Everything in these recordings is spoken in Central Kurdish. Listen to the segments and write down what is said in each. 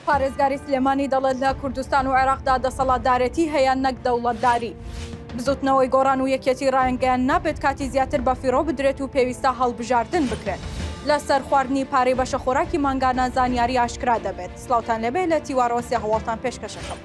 پارێزگاری سلێمانی دەڵێت، لە کوردستان و عێراقدا دەسەڵاتدارێتی هەیە نەک دەوڵەتداری. بزوتنەوەی گۆڕان و یەکێتی رایانگەیاند، نابێت کاتی زیاتر بەفیڕۆ بدرێت و پێویستە هەڵبژاردن بکرێت. لەسەر خواردنی پارەی بەشەخۆراکی مانگانە زانیاری ئاشکرا دەبێت. سڵاوتان لێبێ لە تیوارەوە سێ هەواڵتان پێشکەشەکەم.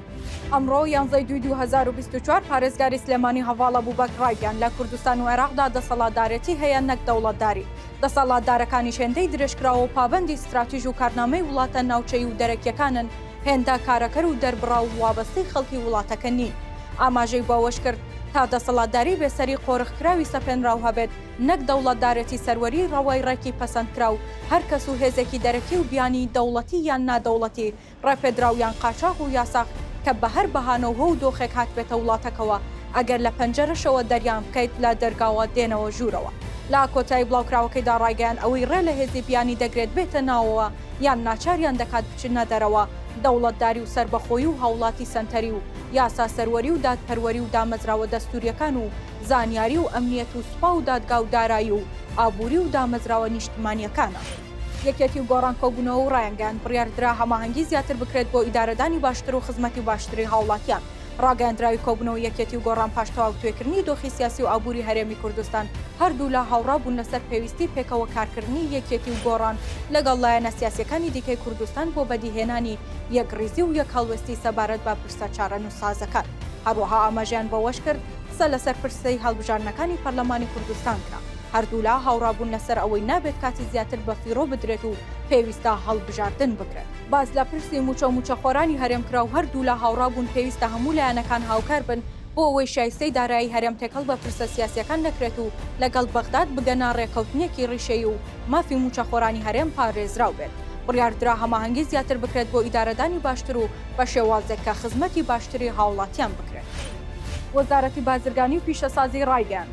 ئەمڕۆ یانزەی دووی دوو هەزار و بیست و چوار پارێزگاری سلێمانی هەڤاڵ ئەبوبەکر رایگەیاند، لە کوردستان و عێراقدا دەسەڵاتدارێتی هەیە نەک دەوڵەتداری. دەسەڵاتدارەکانیش هێندەی درێژکراوە و پابەندی ستراتیژ و کارنامەی وڵاتە ناوچەیی و دەرەکییەکانن، هێندە کارەکەر و دەربڕاو و وابەستەی خەڵکی وڵاتەکە نین. ئاماژەی بەوەشکرد، تا دەسەڵاتداری بێسەری قۆرخکراوی سەپێنراو هەبێت، نەک دەوڵەتدارێتی سەروەریی ڕەوای ڕێکی پەسەندکراو، هەرکەس و هێزێکی دەرەکی و بیانی، دەوڵەتی یان نادەوڵەتی، ڕێپێدراو یان قاچاغ و یاساغ کە بە هەر بەهانەو هۆ و دۆخێک هاتبێتە وڵاتەکەوە ئەگەر لە پەنجەرەشەوە دەریان بکەیت لە دەرگاوە دێنەوە ژوورەوە. لە کۆتایی بڵاوکراوەکەیدا ڕایگەیاند ئەوەی ڕێ لە هێزی بیانی دەگرێت بێتە ناوەوە یان ناچاریان دەکات بچنە دەرەوە دەوڵەتداری و سەربەخۆیی و هاوڵاتی سەنتەری و یاسا سەروەری و دادپەروەری و دامەزراوە دەستوریەکان و زانیاری و ئەمنیەت و سوپا و دادگا و دارایی و ئابوری و دامەزراوە نیشتمانیەکانە. یەکێتی و گۆڕان کۆبوونەوە و ڕایانگەیاند، بڕیاردرا هەماهەنگی زیاتر بکرێت بۆ ئیدارەدانی باشتر و خزمەتی باشتری هاوڵاتیان. ڕاگەیاندراوی کۆبوونەوەی یەکێتی و گۆڕان پاش تەواوتوێکردنی دۆخی سیاسی و ئابووری هەرێمی کوردستان، هەردوولا هاوڕا بوون لەسەر پێویستی پێکەوە کارکردنی یەکێتی و گۆڕان لەگەڵ لایەنە سیاسییەکانی دیکەی کوردستان بۆ بەدیهێنانی یەکڕیزی و یەکهەڵوێستی سەبارەت بە پرسە چارەنووسسازەکان. هەروەها ئاماژەیان بەوەشکرد، قسە لەسەر پرسەی هەڵبژاردنەکانی پەرلەمانی کوردستان کرا. هەردوولا هاوڕابوون لەسەر ئەوەی نابێت کاتی زیاتر بەفیڕۆ بدرێت و پێویستە هەڵبژاردن بکرێت. باس لە پرسی مووچە و مووچەخۆرانی هەرێم کرا و هەردوولا هاوڕابوون پێویستە هەموو لایەنەکان هاوکار بن بۆ ئەوەی شایستەی دارایی هەرێم تێکەڵ بە پرسە سیاسییەکان نەکرێت و لەگەڵ بەغداد بگەنە ڕێککەوتنێکی ڕیشەیی و مافی مووچەخۆرانی هەرێم پارێزراو بێت. بڕیاردرا هەماهەنگی زیاتر بکرێت بۆ ئیدارەدانی باشتر و بە شێوازێک کە خزمەتی باشتری هاوڵاتیان بکرێت. وەزارەتی بازرگانی و پیشەسازی ڕایگەیاند،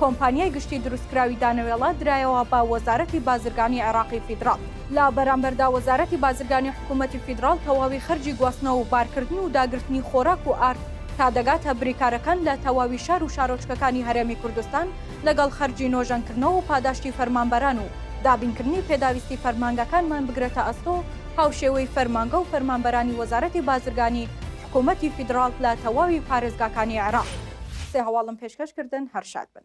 کۆمپانیای گشتی دروستکراوی دانەوێڵە درایەوە بە وەزارەتی بازرگانی عێراقی فیدراڵ. لە بەرامبەردا وەزارەتی بازرگانی حکوومەتی فیدراڵ تەواوی خەرجی گواستنەوە و بارکردن و داگرتنی خۆراک و ئارد تا دەگاتە بریکارەکان لە تەواوی شار و شارۆچکەکانی هەرێمی کوردستان لەگەڵ خەرجی نۆژەنکردنەوە و پاداشتی فەرمانبەران و دابینکردنی پێداویستی فەرمانگەکانمان بگرێتە ئەستۆ هاوشێوەی فەرمانگە و فەرمانبەرانی وەزارەتی بازرگانی حکوومەتی فیدراڵ لە تەواوی پارێزگاکانی عێراق. سێ هەواڵم پێشکەش کردن هەر شاد بن.